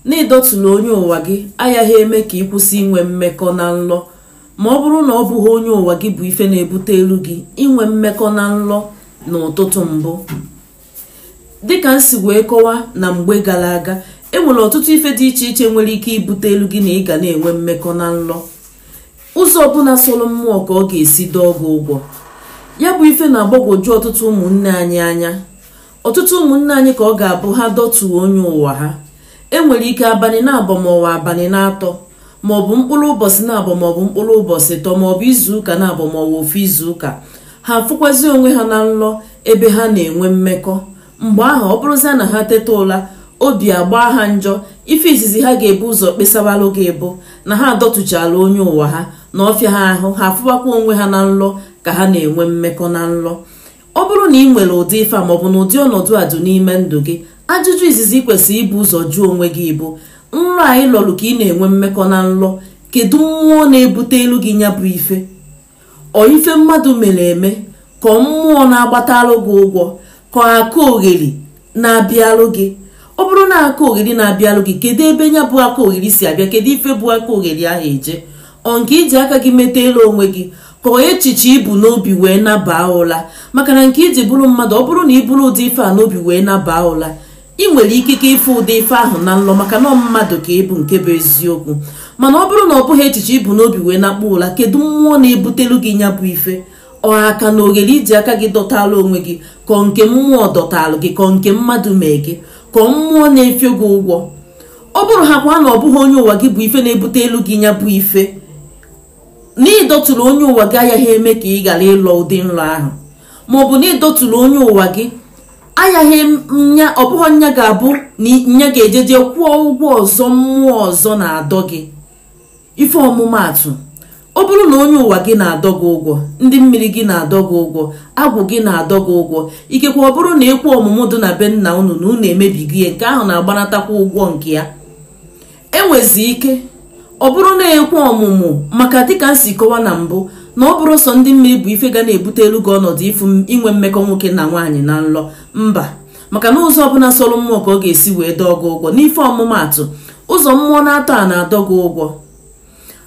n'ịdọtụla onye ụwa gị agaghị eme ka ị kwụsị inwe mmekọ na nlọ ma ọ bụrụ na ọ bụghị onye ụwa gị bụ ife na-ebutelu gị inwe mmekọ na nlọ n'ụtụtụ mbụ dịka m si wee kọwa na mgbe gara aga enwere ọtụtụ ife dị iche iche nwere ike ibutelu gị na ị ga na-enwe mmekọ na nlọ ụzọ ọbụla sọrọ mmụọ ka ọ ga-esi dọọ gị ụgwọ ya bụ ife na-agbagwoju ọtụtụ ụmụnne anyị anya ọtụtụ ụmụnne anyị ka ọ ga-abụ ha dọtuo onye ụwa ha enwere ike abalị na-abọ maọbụ abalị na-atọ maọbụ mkpụrụ ụbọchị na-abọ maọbụ mkpụrụ ụbọchị ịtọ maọbụ izuụka na-abọ maọbụ ofu izuụka ha afụkwazi onwe ha na nlọ ebe ha na-enwe mmekọ mgbe ahụ ọ bụrụzia na ha teta ụla obi agbaa ha njọ ife izizi ha ga-ebu ụzọ kpesawalụ gị bụ na ha adọtụchala onye ụwa ha na ọ fịa ha ahụ ha afụwakwa onwe ha na nlọ ka ha na-enwe mmekọ na nlọ ọ bụrụ na ị nwere ụdị ife a maọbụ na ụdị ọnọdụ a dị n'ime ndụ gị ajụjụ izizi kwesịrị ibu ụzọ jụọ onwe gị bụ nrọ ahụ ị lọrụ ka ị na-enwe mmekọ na nlọ kedu mmụọ na-ebutelu gị nya bụ ife ọ ife mmadụ mere eme ka mmụọ na-agbatalụ gị ụgwọ ka aka ogheri na-abịalụ gị ọ bụrụ na aka ogheri na-abịalụ gị kedu ebe nya bụ aka ogheri si abịa kedu ife bụ aka ogheri ahụ eje ọ nke i ji aka gị metalụ onwe gị ka echiche i bu n'obi wee nabaa ụla maka na nke i ji bụrụ mmadụ ọ bụrụ na i buru ụdị ife a n'obi wee nabaa ụla ị nwere ikike ịfụ ụdị ife ahụ na nlọ maka na mmadụ ka ị bụ nke bụ eziokwu mana ọ bụrụ na ọ bụghị echiche i bu n'obi wee nakpuo ụla kedu mmụọ na-ebutelu gị nya bụ ife ọ aka na ogheri i ji aka gị dọtara onwe gị ka ọ nke mmụọ dọtara gị ka ọ nke mmadụ mee gị ka ọ mmụọ na-efio gị ụgwọ ọ bụrụ ha kwa na ọ bụghị onye ụwa gị bụ ife na-ebutelu gị nya bụ ife na ịdọtụrụ onye ụwa gị agaghị eme ka ị ghara ịlọ ụdị nrọ ahụ ma ọ bụ na ịdọtụrụ onye ụwa gị agaghị nya ọ bụghị nya ga-abụ na nya ga-ejeje kwụọ ụgwọ ọzọ mmụọ ọzọ na-adọ gị ife ọmụmaatụ ọ bụrụ na onye ụwa gị na-adọ gị ụgwọ ndị mmiri gị na-adọ gị ụgwọ agwụ gị na-adọ gị ụgwọ ikekwe ọ bụrụ na ekwu ọmụmụ dị na be nna unu na unu emebigo ihe nke ahụ na-agbanatakwa ụgwọ nke ya enwezi ike ọ bụrụ na ekwu ọmụmụ maka dịka m si kọwa na mbụ na ọ bụrọ sọ ndị mmiri bụ ife ga na-ebutelu gị ọnọdụ ịfụ inwe mmekọ nwoke na nwaanyị na nlọ mba maka na ụzọ ọbụla sọrọ mmụọ ka ọ ga-esi wee dọọ gị ụgwọ n'ife ọmụmaatụ ụzọ mmụọ na-atọ a na-adọ gị ụgwọ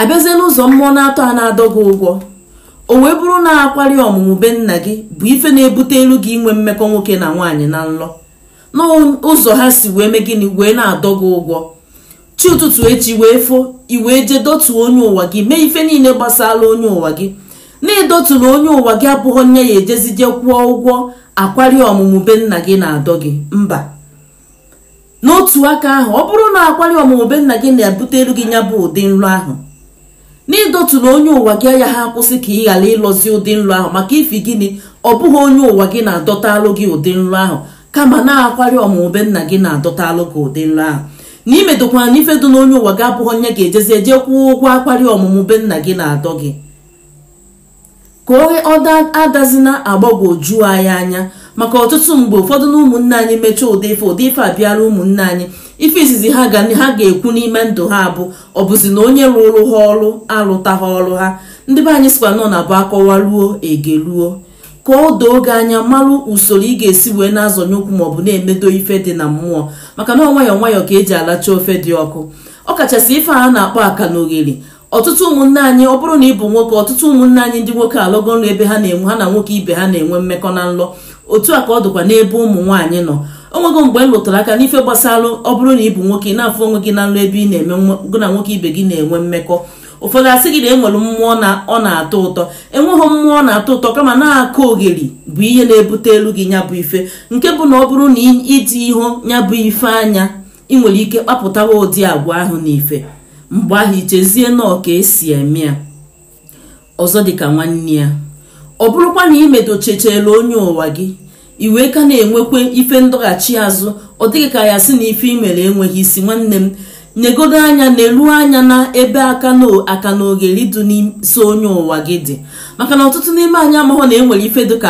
abịazie n'ụzọ mmụọ na-atọ a na-adọ gị ụgwọ o wee bụrụ na akwari ọmụmụ be nna gị bụ ife na-ebutelu gị inwe mmekọ nwoke na nwaanyị na nlọ n'ụzọ ha si wee mee gịnị wee na-adọ gị ụgwọ chi ụtụtụ echi wee fo i wee jee dotuo onye ụwa gị mee ife niile gbasara onye ụwa gị na idotula onye ụwa gị abụghị nya ya-ejezi jee kwụọ ụgwọ akwari ọmụmụ be nna gị na-adọ gị mba n'otu aka ahụ ọ bụrụ na akwari ọmụmụ be nna gị na-ebutelu gị nya bụ ụdị nlọ ahụ na idotula onye ụwa gị ayaghị akwụsị ka ị ghara ịlọzi ụdị nlọ ahụ maka ifi gịnị ọ bụghị onye ụwa gị na-adọtalụ gị ụdị nlọ ahụ kama na akwari ọmụmụ be nna gị na-adọtalụ gị ụdị nlọ ahụ na imedokwana ife dị n'onye ụwa gị abụghị nya ga-ejezi jee kwụọ ụgwọ akwari ọmụmụ be nna gị na-adọ gị ka ọ adazina agbagwoju anyị anya maka ọtụtụ mgbe ụfọdụ na ụmụnne anyị mechaa ụdị ife ụdị ife abịara ụmụnne anyị ife izizi ha ga ha ga-ekwu n'ime ndụ ha bụ ọ bụzi na onye rụrụ ha ọrụ alụtaghị ọrụ ha ndị be anyị sịkwa na ọ na-abụ a kọwa ruo e gee ruo ka o doo gị anya malụ usoro ị ga-esi wee na-azọnye ụkwụ maọbụ na-emedo ife dị na mmụọ maka na nwayọọ nwayọọ ka eji alacha ofe dị ọkụ ọ kachasị ife a na-akpọ akanogheri ọtụtụ ụmụnne anyị ọ bụrụ na ị bụ nwoke ọtụtụ ụmụnne anyị ndị nwoke alọgo nlọ ebe ha na-enwe ha na nwoke ibe ha na-enwe mmekọ na nlọ otu a ka ọ dịkwa n'ebe ụmụ nwaanyị nọ onwego mgbe m lụtara aka n'ife gbasara ọ bụrụ na ị bụ nwoke ị na-afụ onwe gị na nlọ ebe ị na-eme gị na nwoke ibe gị na-enwe mmekọ ụfọdụ asị gị na enwere mmụọ na ọ na-atọ ụtọ enweghị mmụọ na-atọ ụtọ kama na akanogheri bụ ihe na-ebutelu gị nya bụ ife nke bụ na ọ bụrụ na iji ihu nya bụ ife anya ị nwere ike kpapụtawa ụdị agwa ahụ n'ife mgbe ahụ i chezie na ọ ka e si eme ya ọzọ dịka nwanne ya ọ bụrụkwa na imedochechela onye ụwa gị i wee ka na-enwekwa ife ndọghachi azụ ọ dị gị ka ya sị na ife imere enweghị isi nwanne m negodo anya nelu anya na ebe akana akanogheri dị nso onye ụwa gị dị maka na ọtụtụ n'ime anyị amaghọ na enwere ife dịka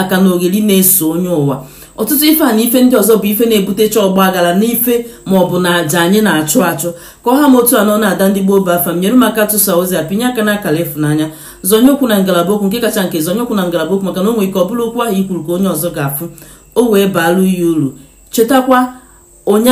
akanogheri na-eso onye ụwa ọtụtụ ife a na ife ndị ọzọ bụ ife na-ebutecha ọgba aghara n'ife ma ọ bụ na aja anyị na-achụ achụ ka ọ ha m otu a nọ na ada ndị gboo bụ afa m nyere m aka tụsa ozi a pịnye aka n'akara ịfụnanya zonye okwu na ngalaba okwu nke kacha nke zonye okwu na ngalaba okwu maka na o nwere ike ọ bụrụ okwu ahụ i kwuru ka onye ọzọ ga-afụ o wee baalụ ya uru chetakwa onye